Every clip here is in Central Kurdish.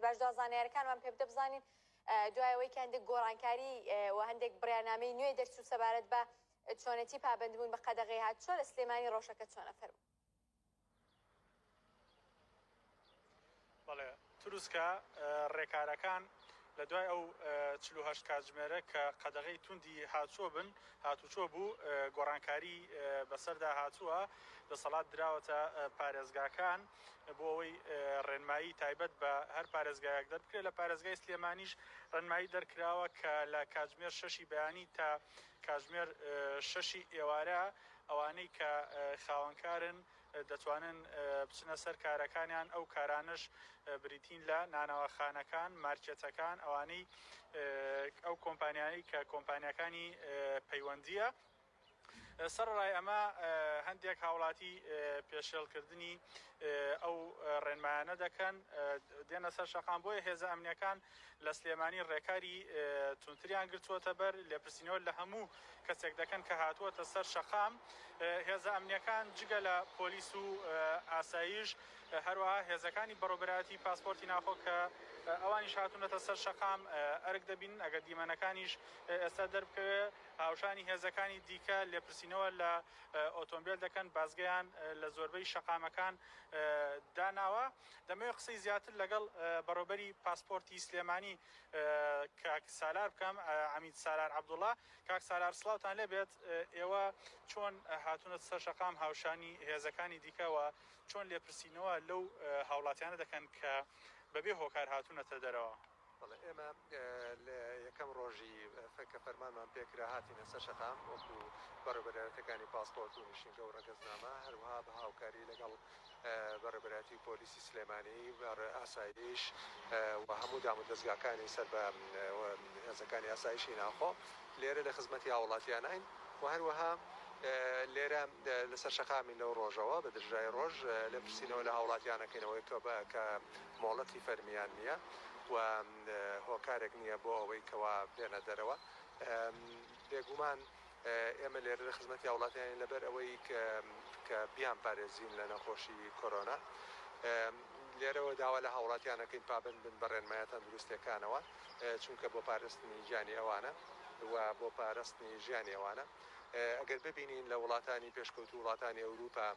باش جا زانیارەکانمان پێ بدە بزانین دوای ئەوەی کە هەندێک گۆڕانکاری و هەندێک بڕیانامەی نوێ دەرچوو سەبارەت بە چۆنێتی پابندبوون بە قەدەغی هات چۆ لە سلێمانی ڕۆژەکە چۆنە فەرم بەڵێ تروسکە ڕێکارەکان لە دوای ئەو چه کاتژمێرە کە قەدەغی توندی هاچووە بن هاتوچۆ بوو گۆڕانکاری بەسەردا هاتووە دەسەڵات دراوەتە پارێزگاکان بۆ ئەوەی ڕێنمایی تایبەت بە هەر پارێزگایەک دەربکرێت، لە پارێزگای سلێمانیش ڕێنمایی دەرکراوە کە لە کاتژمێر شەشی بەیانی تا کاتژمێر شەشی ئێوارە ئەوانەی کە خاوەنکارن دەتوانن بچنە سەر کارەکانیان، ئەو کارانەش بریتین لە نانەواخانەکان، مارکێتەکان، ئەوانەی ئەو کۆمپانیانەی کە کۆمپانیاکانی پەیوەندییە. سەرەڕای ئەمە هەندێک هاوڵاتی پێشێڵکردنی ئەو ڕێنمایانە دەکەن دێنە سەر شەقام، بۆیە هێزە ئەمنیەکان لە سلێمانی ڕێکاری توندتریان گرتووەتەبەر، لێپرسینەوە لە هەموو کەسێک دەکەن کە هاتووەتە سەر شەقام، هێزە ئەمنیەکان جگە لە پۆلیس و ئاسایش هەروەها هێزەکانی بەڕێوەبەرایەتی پاسپۆرتی ناخۆ کە ئەوانیش هاتوونەتە سەر شەقام ئەرک دەبینن، ئەگەر دیمەنەکانیش ئێستا دەربکەوێت. هاوشانی هێزەکانی دیکە لێپرسینەوە لە ئۆتۆمبێل دەکەن، بازگەیان لە زۆربەی شەقامەکان داناوە. دەمەوێت قسەی زیاتر لەگەڵ بەڕێوەبەری پاسپۆرتی سلێمانی کاک سالار بکەم، عەمید سالار عەبدوڵا. کاک سالار سڵاوتان لێ بێت، ئێوە چۆن هاتوونەتە سەر شەقام هاوشانی هێزەکانی دیکە و چۆن لێپرسینەوە لەو هاوڵاتیانە دەکەن کە بەبێ هۆکار هاتوونەتە دەرەوە؟ بەڵێ ئێمە لە یەکەم ڕۆژی کە فەرمانمان پێکرا هاتینە سەر شەقام وەکو بەڕێوەبەرایەتەکانی پاسپۆرت و نیشینگە و ڕەگەزنامە هەروەها بە هاوکاری لەگەڵ بەڕێوەبەرایەتی پۆلیسی سلێمانی ئاسایش و هەموو دام و دەزگاکانی سەر بە هێزەکانی ئاسایشی ناوخۆ لێرە لە خزمەتی هاوڵاتیاناین و هەروەها لێرە لەسەر شەقامین لەو ڕۆژەوە بە درژای ڕۆژ لێپرسینەوە لە هاوڵاتیان ئەکەینەوە کە مۆڵەتی فەرمییان نییە و هۆکارێک نییە بۆ ئەوەی کەوا بێنە دەرەوە. بێگومان ئێمە لێرە لە خزمەتی هاوڵاتیانین لەبەر ئەوەی کە بیانپارێزین لە نەخۆشی کۆرۆنا. لێرەوە داوا لە هاوڵاتیان ئەکەین پابەند بن بە رێنمایە تەندروستییەکانەوە چونکە بۆ پارستنی گیانی ئەوانە و بۆ پارستنی ژیانی ئەوانە. ئەگەر ببینین لە وڵاتانی پێشکەوتوو وڵاتانی ئەوروپا،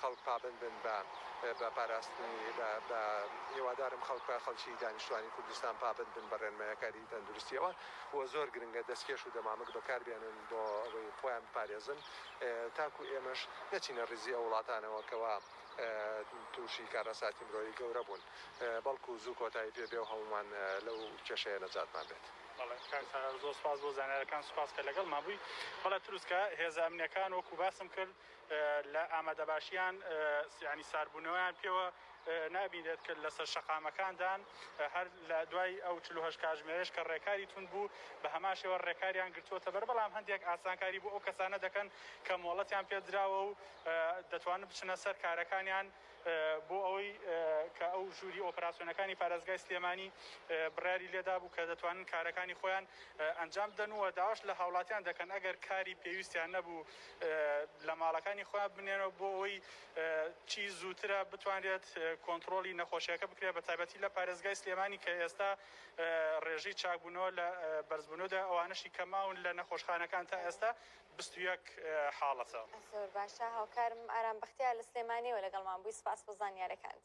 خەڵک پابەند بن بە بە پاراستنی بە بە هیوادارم خەڵک بە خەڵکی دانیشتوانی کوردستان پابەند بن بە ڕێنمایەکاری تەندروستیەوە و زۆر گرنگە دەستکێش و دەمامک بەکار بێنن بۆ ئەوەی خۆیان بپارێزن تاکو ئێمەش نەچینە ڕیزی ئەو وڵاتانەوە کەوا توشی کارەساتی مرۆیی گەورە بوون بەڵکو زوو کۆتایی پێ بێ و هەموومان لەو کێشەیە نەجاتمان بێت. بەڵێ کاک سالار زۆر سوپاس بۆ زانیارەکان سوپاس کە لەگەڵمان بووی بەڵێ تروسکە هێزە ئەمنیەکان وەکو باسم کرد. لە ئامادەباشیان یانی ساردبوونەوەیان پێوە نابینرێت کە لەسەر شەقامەکاندان هەر لە دوای ئەو چلو هەشت کاژمێرەش کە ڕێکاری تون بوو بە هەمان شێوە ڕێکاریان گرتووەتە بەر بەڵام هەندێک ئاسانکاری بۆ ئەو کەسانە دەکەن کە مۆڵەتیان پێدراوە و دەتوانن بچنە سەر کارەکانیان بۆ ئەوەی کە ئەو ژووری ئۆپراسیۆنەکانی پارێزگای سلێمانی بڕیاری لێدابوو کە دەتوانن کارەکانی خۆیان ئەنجام بدەن و داواش لە هاوڵاتیان دەکەن ئەگەر کاری پێویستیان نەبوو لە ماڵەکانی خۆیان بمێنەوە بۆ ئەوەی چی زووترە بتوانرێت کۆنتڕۆڵی نەخۆشیەکە بکرێت بە تایبەتی لە پارێزگای سلێمانی کە ئێستا ڕێژەی چاکبوونەوە لە بەرزبوونەوەدا ئەوانەشی کە ماون لە نەخۆشخانەکان تا ئێستا بیست و یەک حاڵەتە. زۆر باشە هاوکارم ئارام بەختیار لە سلێمانیەوە لەگەڵمان بووی سپاس بۆ زانیارەکانت.